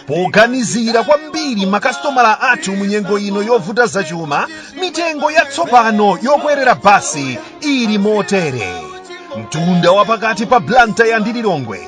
poganizira kwambiri makasitomala athu mu nyengo ino yovuta zachuma mitengo yatsopano yokwerera basi ili motere mtunda wapakati pa Blantyre ndi Lilongwe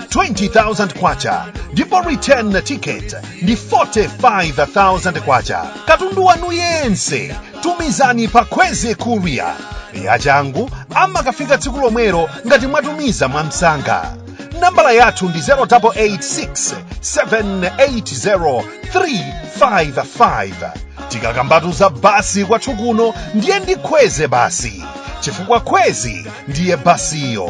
20,000 kwacha ndipo return ticket ndi 45,000 kwacha katundu wanu yense tumizani pa Khweze courier yachangu amakafika tsiku lomwelo ngati mwatumiza mwamsanga nambala yathu ndi 0886 780 355 tikakambatu za basi kwathu kuno ndiye ndi Khweze basi chifukwa Khweze ndiye basiyo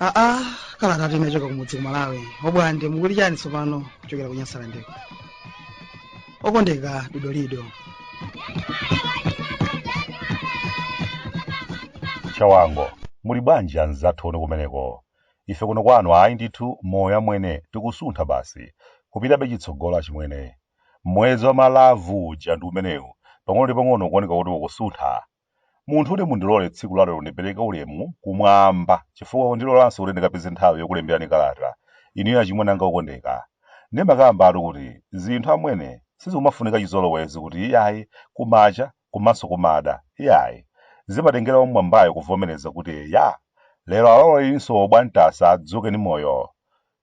aa kalatayi inachoka kumudzi ku malawi obwande mukuti chani tsopano kuchokera ku Nyasalandeko okondeka dodolido chawango muli bwanji anzathu uko kumeneko Ife kuno kwanu ayi ndithu moyo amwene tikusuntha basi. Kupitabe chitsogolo achimwene. Mwezi wa ma love uja ndi umenewu pang'ono ndi pang'ono ukuoneka kuti ukusuntha. Munthune mundilole tsiku la lero ndipereke ulemu kumwamba chifukwa kundilolanso kuti ndikapeze nthawi yokulemberani kalata inuyo achimwene anga okondeka. Ndimakambatu kuti zinthu amwene sizikumafunika chizolowezi kuti iyayi kumacha komanso kumada, iyayi, zimatengera wammwambayo kuvomereza kuti eya, lero alowelinso Obwande asa adzuke ndi moyo.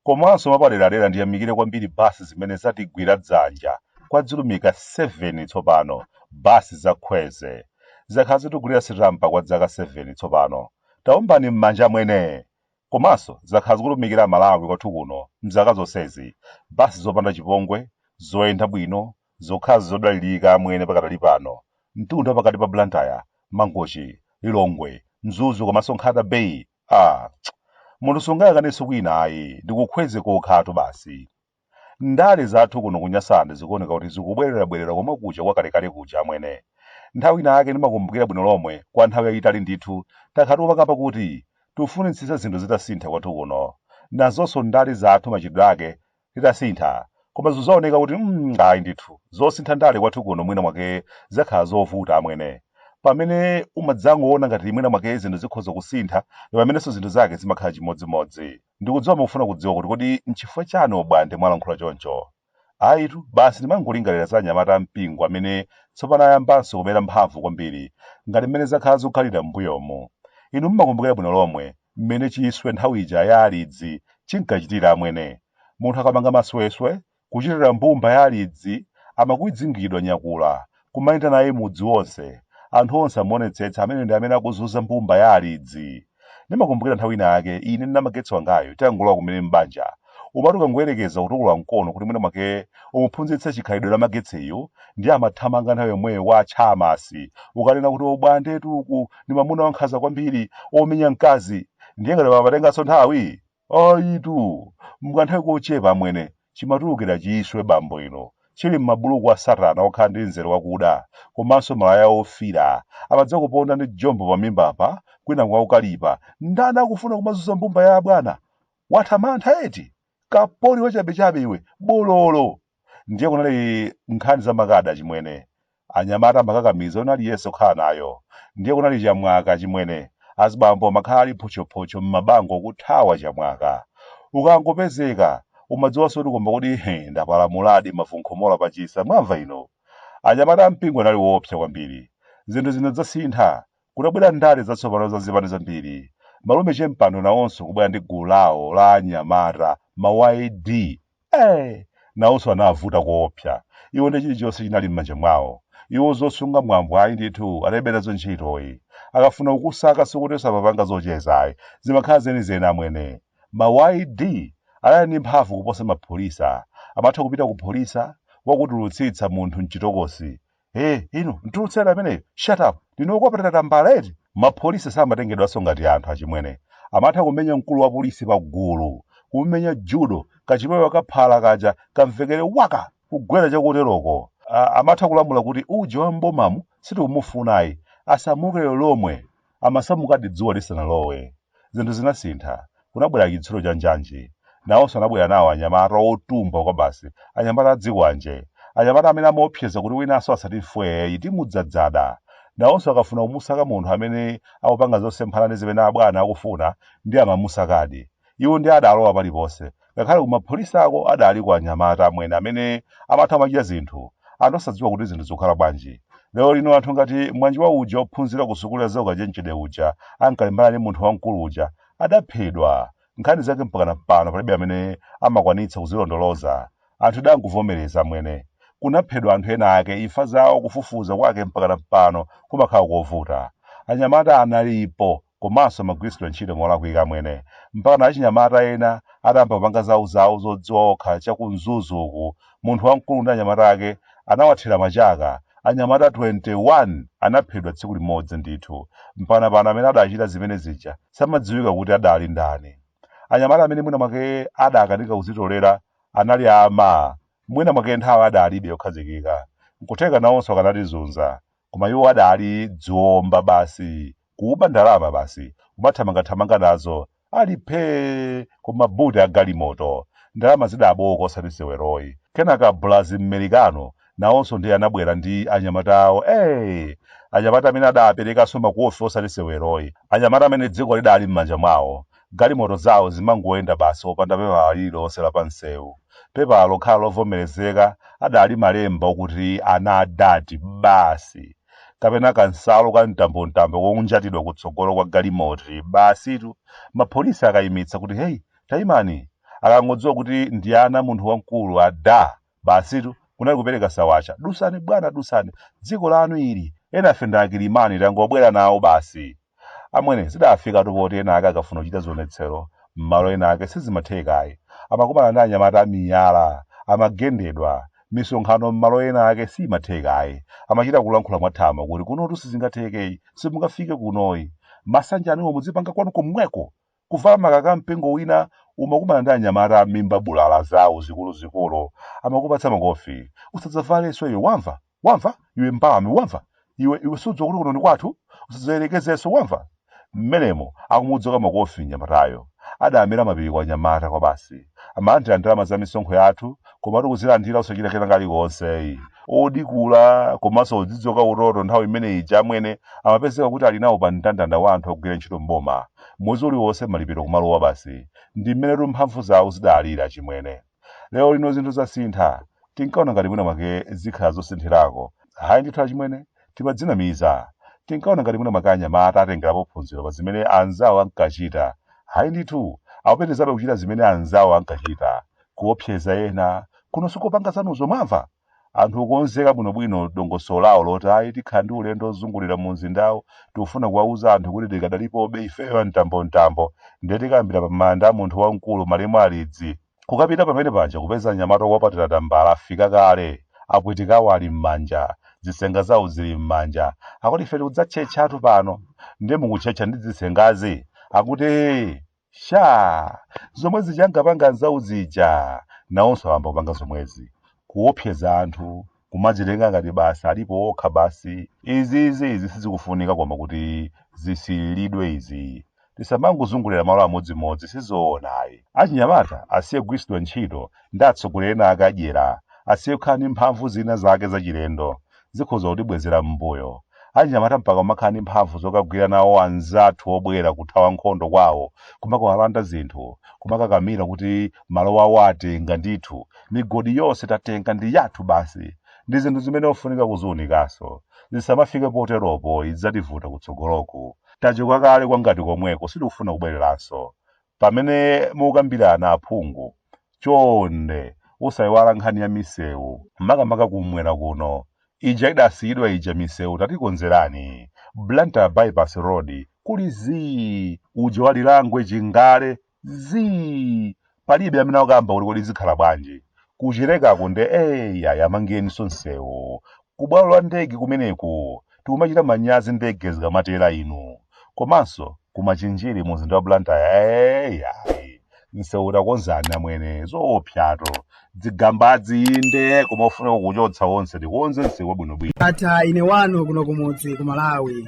Komanso mwapaderadera ndiyamikire kwambiri bus zimene zatigwira dzanja kwa dzilumika 7 tsopano, bus za Khweze, zakhala zikutigulira sitampa kwa dzaka 7 tsopano, taombani mmanja amwene! Komanso zakhala zikutumikira Amalawi kwathu kuno mzaka zonsezi, bus zopanda chipongwe, zoyenda bwino, Zokhazi zodalilika amwene pakadali pano mtunda wapakati pa Blantyre, Mangochi, Lilongwe, Mzuzu komanso Nkhata Bay aah munthu sungayang'anenso kwina ayi ndi ku Khweze kokha tu basi. Ndale zathu kuno ku Nyasaland zikuoneka kuti zikubwelera bwelera komwe kuja kwa kale kale kuja amwene. Nthawi ina yake ndimakumbukira bwino lomwe kwa nthawi yayitali ndithu takhala tikumakamba kuti tufunitsisa zinthu zitasintha kwathu kuno. Nazonso ndale zathu machitidwe ake atasintha, koma zikuoneka kuti mm, ayi ndithu, zosintha ndale kwathu kuno mwina mwake zakhala zovuta amwene. Pamene umadzangoona ngati mwina mwake zinthu zikhoza kusintha, ndi pamenenso zinthu zake zimakhala chimodzimodzi. Ndikudziwa mukufuna kudziwa kuti kodi nchifukwa chani Obwande mwalankhula choncho? Ayitu, basi ndimangolingalira za anyamata ampingo amene tsopano ayambanso kumera mphamvu kwambiri, ngati mmene zakhala zikukhalira m'mbuyomu. Inu mumakumbukira bwino lomwe, mmene chiswe nthawi ija ya alidzi chinkachitira amwene. Munthu akapanga masweswe, kuchitira mbumba ya alidzi, amakwidzingidwa nyakula, kumapita naye mudzi wonse, anthu onse amuonetsetsa ameneyo ndi amene akuzunza mbumba ya alidzi. Ndimakumbukira nthawi ina yake ine ndi namagetse wangayu titangolowa kumene m'banja, umati ukangoyerekeza kutukula mkono kuti mwina mwake umuphunzitse chikhalidwe namagetseyu ndiye amathamanga nthawi yomweyo kwa atcheyamani kukanena kuti ubwande ukutu uku ndi mamuna wankhaza kwambiri omenya mkazi ndiye ngati sipamatenganso nthawi ayitu m'kanthawi kochepa amwene chimatulukira chiswe bambo ino chili m'mabuluku a satana okhala ndi mzere wakuda komanso malaya ofira amadza kuponda ndi jombo pamimbapa kwinaku akukalipa ndani akufuna kumazunza mbumba ya abwana watha mantha eti kapoli wachabechabe iwe bololo ndiye kunali nkhani za makada chimwene anyamata amakakamiza olo Yesu khadi ali nayo ndiye kunali chamwaka chimwene azibambo amakhala ali photchophotcho m'mabango kuthawa chamwaka ukangopezeka umadziwanso kuti koma kudi he ndapalamuladi mavu nkhomola pachisa mwamva ino anyamata a mpingo anali woopsa kwambiri zinthu zinadzasintha Kutabwera ndale zatsopano za zipani zambiri, malume Chempando nawonso kubwera ndi gulu lawo la anyamata, ma YD. Eee! Nawonso anavuta koopsa. Iwo nde chilichonse chinali m'manja mwawo. Iwo zosunga mwambo ayi ndithu, analibe nazo ntchito yi. Akafuna kukusaka sikuti amapanga zocheza ayi, zimakhala zenizeni amwene. Ma YD anali ndi mphamvu kuposa ma Pholisa. Amatha kupita ku Pholisa, kukatulutsitsa munthu m'chitokosi, e inu mutulutse ameneyo shut up ndinu okwanira tambala eti mapolisi samatengedwanso ngati anthu achimwene amatha kumenya mkulu wa polisi pa gulu kumumenya judo kachipewa kaphala kaja kamvekere waka kugwera chakuteroko A- amatha kulamula kuti uje wa m'bomamu sitikumufunayi asamuke lero lomwe Amasamukadi dzuwa lisanalowe. Zinthu zinasintha. Kunabwera chitsulo cha njanji. Nawonso anabwera nawo anyamata otumbwa kwabasi, anyamata azikwanje, anyamata amene amaopseza kuti winanso asati mfweeyi timudzadzada. Nawonso akafuna kumusaka munthu amene akupanga zosemphana ndi zimene abwana akufuna, ndiye amamusakadi. Iwo ndiye adalowa paliponse, ngakhale kuti mapholisa ako adaliko anyamata amwene amene amatha kumachita zinthu anthu osadziwa kuti zinthu zikukhala bwanji. Lero lino anthu ngati mwana wa uja wophunzira kusukulu ya zaukachenjede uja ankalimbana ndi munthu wamkulu uja adaphedwa. Nkhani zake mpakana pano palibe amene amakwanitsa kuzilondoloza. Anthu tidangovomereza amwene. Kunaphedwa anthu ena ake, imfa zawo kufufuza kwake mpakana pano kumakhala kovuta. Anyamata analipo komanso amagwiritsidwa ntchito molakwika amwene mpakana achinyamata ena adayamba kupanga zawo zawo zodziwa okha cha ku mzuzu uku munthu wamkulu ndi anyamata ake anawathira machaka anyamata 21 anaphedwa tsiku limodzi ndithu mpakana pano amene adachita zimene zija samadziwika kuti adali ndani anyamata amene mwina mwake adakanika kuzitolera anali ama mwina mwake nthawi adalibe yokhazikika nkutheka nawonso akanatizunza koma iwo adali dziwomba basi kuba ndalama basi kumathamangathamanga nazo ali phee ku mabuti a galimoto ndalama zidabowoka osati seweroyi kenaka bulazi mmerikano nawonso ndiye anabwera ndi anyamata awo ee anyamata amene adaperekanso makofi osati seweroyi anyamata amene dziko lidali m'manja mwawo Galimoto zawo zimangoyenda basi opanda pepala lililonse la pamsewu. Pepala lokhalo lovomerezeka adali malemba okuti Ana a Dad, basi! Kapena kansalu ka mtambomtambo konjatidwa kutsogolo kwa galimoti, basitu! Mapolisi akaimitsa kuti, Heyi, taimani! Akangodziwa kuti ndi ana a munthu wamkulu, a Dad! Basitu, kunali kupereka sawatcha. Dusani bwana dusani. Dziko lanu ili. Enafe ndi akilimani tangobwera nawo basi. Amwene, zidafikatu poti ena ake akafuna kuchita zionetsero m'malo ena ake sizimatheka ayi. Amakumana ndi anyamata a miyala. Amagendedwa. Misonkhano m'malo ena ake siimatheka ayi. Amachita kulankhula mwathamo kuti kunotu sizingatheke, simungafike kunoyi. Masanje anuwo muzipanga kwanu komweko! Kuvala makaka a mpingo wina umakumana ndi anyamata amimba bulala zawo zikuluzikulu amakupatsa makofi usadzavalenso iwe wamva wamva iwe mbalame wamva iwe iwe sudziwa kuti kuno ndi kwathu usadzayerekezenso wamva mmenemo akumudzoka makofi mnyamatayo adamera mapiko anyamata kwabasi amalandira ndalama za misonkho yathu komatu kuzilandira osachita kena kalikonse ayi odikula komanso odzidzoka utoto nthawi imene ija amwene amapezeka kuti ali nawo pa mndandanda wa anthu ogwira ntchito m'boma Mwezi uliwonse malipiro kumalowa basi. Ndi mmenetu mphamvu zawo zidalili achimwene. Lero lino zinthu zasintha. Tinkaona ngati mwina mwake zikhala zosinthirako. Ayi ndithu achimwene, timadzinamiza. Tinkaona ngati mwina mwake anyamata atengerapo phunziro pa zimene anzawo ankachita. Ayi ndithu, akupitirizabe kuchita zimene anzawo ankachita. Kuopseza ena. Kuno sikopanga zanuzo, mwamva? Anthu okonzeka bwinobwino dongosolo lawo loti ayi tikhala ndi ulendo ozungulira mu mzindawu tikufuna kuwauza anthu kuti tikadalipobe ifeyo a mtambomtambo ndiye tikayambira pa manda a munthu wamkulu malemu Alidzi. Kukapita pamene paja kupeza anyamata okupatira tambala afika kale, apwitika awo ali m'manja, dzisenga zawo zili m'manja, akuti ife tikudzatchetchatu pano ndiye mukutchetcha ndi dzisengazi? akuti ee! Shaa! Zomwe zija ankapanga anzawo aja nawonso awamba kupanga zomwezi. Kuopseza anthu, kumadzitenga ngati basi alipo okha basi. Izizi izi sizikufunika koma kuti zisiyidwe izi. Tisamangozungulira malo amodzimodzi sizoona ayi. Achinyamata asiye kugwiritsidwa ntchito ndi atsogoleri ena ake adyera, asiye kukhala ndi mphanvu zina zake zachilendo. zikhoza kutibwezera mmbuyo. Achinyamata mpaka kumakhala ndi mphamvu zokagwira nawo anzathu obwera kuthawa nkhondo kwawo, kumakawalanda zinthu, kumakakamira kuti malowo awo atenga ndithu, migodi yonse tatenga ndi yathu basi. Ndi zinthu zimene zofunika kuziunikanso. Zisamafike poteropo idzativuta kutsogoloku. Tachoka kale kwa ngati komweko sitikufuna kubwereranso. Pamene mukukambirana aphungu, chonde osaiwala nkhani ya misewu makamaka kummwera kuno. Ija idasiyidwa ija misewu tatikonzerani. Blantyre Bypass Road kuli zii, uja wa Lirangwe Chingale zii. Palibe amene akukamba kuti kodi zikhala bwanji. ku Chilekako nde ee ayi amangeninso nsewu kubwalo la ndege kumeneku tikumachita manyazi ndege zikamatera inu komanso ku Machinjiri mu mzinda wa Blantyre ee ayi nsewu tatikonzerani amwene zoopsyato dzigambadzi inde koma ofunika kuchotsa onse tikonze nsewu wabwinobwino ndatha ine wanu kuno kumudzi ku Malawi